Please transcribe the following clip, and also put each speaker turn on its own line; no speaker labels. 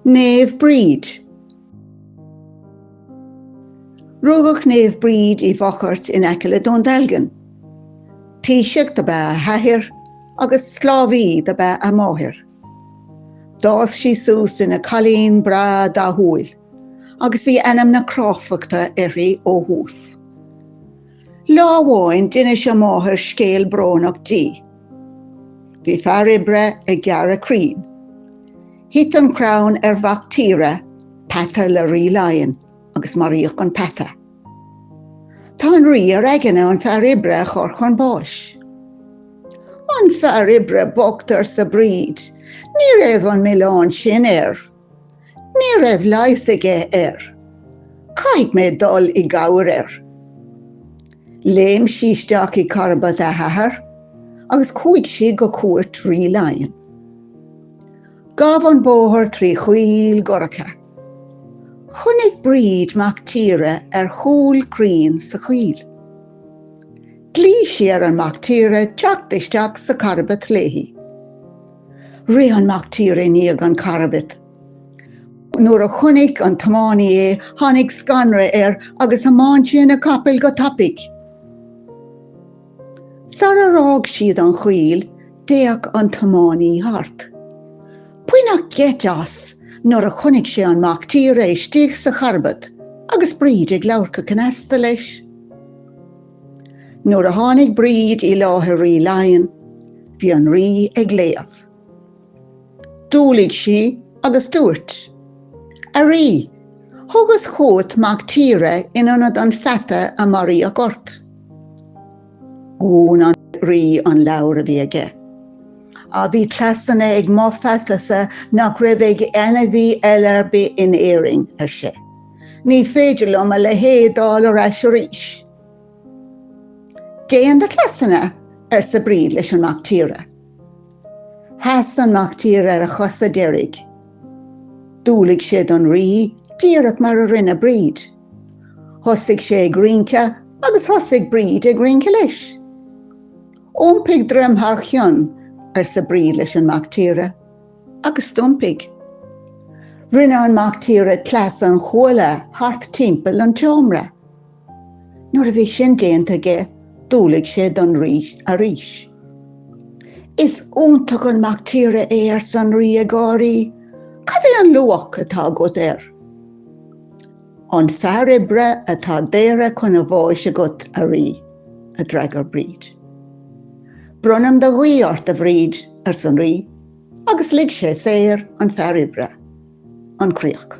Naomh Bríd. Rugadh Naomh Bríd i bhFochairt in aice le Dún Dealgan. Taoiseach do b'ea a hathair agus sclábhaí do b'ea a máthair. D'fhás sí suas ina cailín breá dathúil agus bhí ainm na cráifeachta uirthi ó thús. Lá amháin d'inis a máthair scéal brónach di. Bhí fear oibre ag gearradh crainn. Thit an crann ar mhac tíre, peata le Rí Laighean, agus maraíodh an peata. Tá an Rí ar aigne an fear oibre a chur chun báis. An fear oibre bocht, arsa Bríd, ní raibh an milleán sin air. Ní raibh leigheas aige air. Caithfidh mé dul i gcabhair air. Léim sí isteach i gcarbad a hathar agus chuaigh sí go cúirt Rí Laighean. Ghabh an bóthar trí choill dhorcha. Chonaic Bríd mac tíre ar chúl crainn sa choill. Ghlaoigh sí ar an mac tíre teacht isteach sa charbad léi. Rith an mac tíre i ndiaidh an charbaid. Nuair a chonaic an tiománaí é tháinig scanradh air agus thiomáin sé na capaill go tapaidh. Sar ar fhág siad an choill d'fhéach an tiománaí thart. Baineadh geit as nuair a chonaic sé an mac tíre istigh sa charbat agus Bríd ag labhairt go cneasta leis. Nuair a tháinig Bríd i láthair Rí Laighean, bhí an Rí ag léamh. D'umhlaigh sí agus dúirt, A Rí, thugas chugat mac tíre in ionad an pheata a maraíodh ort. Dhún an Rí an leabhar a bhí aige. Ach bhí cleasanna ag mo pheatasa nach raibh ag ainmhí eile ar bith in Éirinn, ar sé. Ní féidir liom a leithéid d'fháil ar ais arís. Déan do chleasanna, arsa Bríd leis an mac tíre. Sheas an mac tíre ar a chosa deiridh. D'umhlaigh sé don rí díreach mar a rinne Bríd. Thosaigh sé ag rince agus thosaigh Bríd ag rince leis. Iompaigh droim thar chionn, arsa Bríd leis an mac tíre. agus d'iompaigh. Rinne an mac tíre cleas an chuaille thart timpeall an tseomra. Nuair a bhí sin déanta aige, d'umhlaigh sé don rí arís. Is iontach an mac tíre é arsa an rí ag gáirí, Cad é an luach atá agat air? An fear oibre atá daortha chun a bháis agat, a rí, a d'fhreagair Bríd. Bronnaim do ghuí ort, a Bhríd, arsa an rí, agus lig sé saor an fear oibre. An Chríoch.